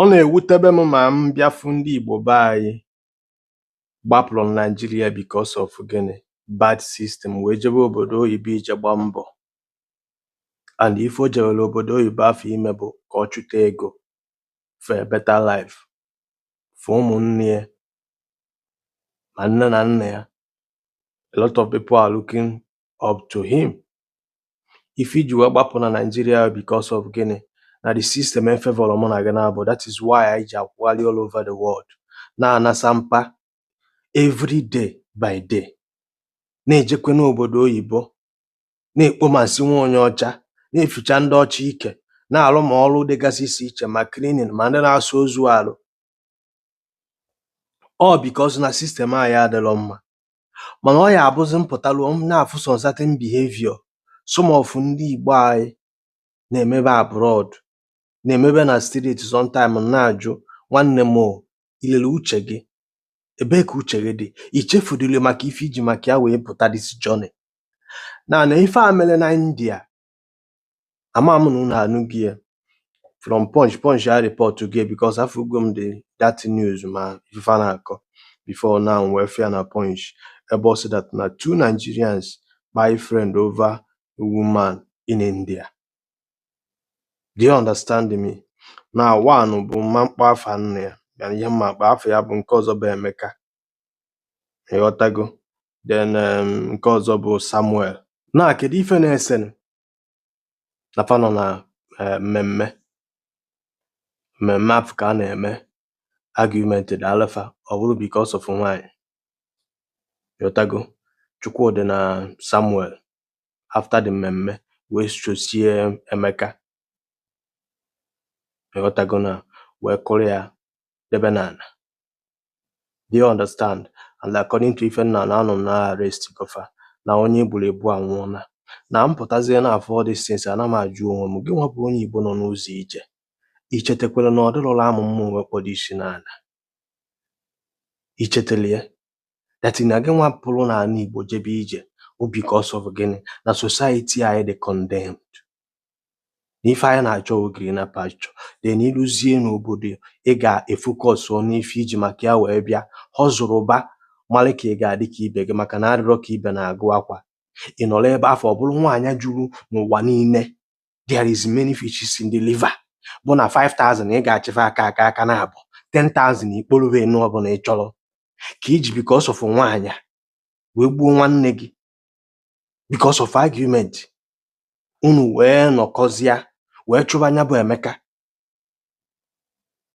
Ọ na-ewutebe m ma m bịa fụ ndị Igbo be anyị gbapụrụ na Naịjirịa because of gịnị? Bad system wee jebe obodo oyibo ije gbaa mbọ and ife o jewere obodo oyibo afụ ime bụ ka ọ chụta ego for a better life for ụmụnne ya ma nne na nna ya. A lot of people are looking up to him ife e ji wee gbapụ na Nigeria because of gịnị na the system efevọrọ mụ na gị n'abụọ that is why anyị ji akwụgharị all over the world na-anasa mpa every day by day na-ejekwe n'obodo oyibo na-ekpo ma nsị nwa onye ọcha na-eficha ndị ọcha ike na-arụ ma ọrụ dịgasị iche iche ma cleaning ma ndị na-asa ozu arụ all because na system anyị adịrọ mma mana ọ ya abụzi m pụtaruo m na-afụ some certain behavior some of ndị Igbo anyị na-emebe abroad na-emebe na street sometime m na-ajụ nwanne m o, ilele uche gị ebee ka uche gị dị i chefudịrị maka ife i ji maka ya wee pụta this journey na na ife a mere na India ama m na unu anụgo ya from punch punch areportgo ya because afụgo m the that news ma ife a na-akọ before now wee fụ ya na punch ebe ọ sị that na two Nigerians kpai friend over a woman in India do you understand me na one bụ m ma-akpọ afa nna ya ya na ihe m ma-akpọ afa ya bụ nke ọzọ bụ Emeka ịghọtago then um, nke ọzọ bụ Samuel na kedu ife na-esenụ na fa nọ na eh, mmemme mmemme afụ ka a na-eme argument daalụ fa ọ bụrụ because of nwaanyị ịghọtago Chukwudị na Samuel after the mmemme wee sosie Emeka ịghọtago na wee kụrụ ya debe n'ala do you understand and according to ife m na-anụ na a arrestgo fa na onye e gburu egbu anwụọla na m pụtazie na-afụ all these things ana m ajụ onwe m gị nwa bụ onye igbo nọ n'ụzọ ije i chetakwara na ọ dịrọlụ amụ mma o wee kpọdo isi n'ala i chetalụ ya that na gị nwa pụrụ n'ala igbo jebe ije o because of gịnị na society anyị dị condemned na ife anyị na-achọ wụ greener pasture then i luzie n'obodo ị ga-efocus n'ife i ji maka ya wee bịa hustleba mara ka ị ga-adị ka ibe gị maka na adịrọ ka ibe na-agụ akwa ị nọrọ ebe afụ ọ bụrụ nwaanyị juru n'ụwa niile there is many fishes in the river bụ na 5000 ị ga-achịfe aka aka aka na abụ 10000 ikporobe enu ọbụla ị chọrọ ka i ji because of nwaanyị wee gbuo nwanne gị because of argument unu wee nọkọzie wee chụba anya bụ Emeka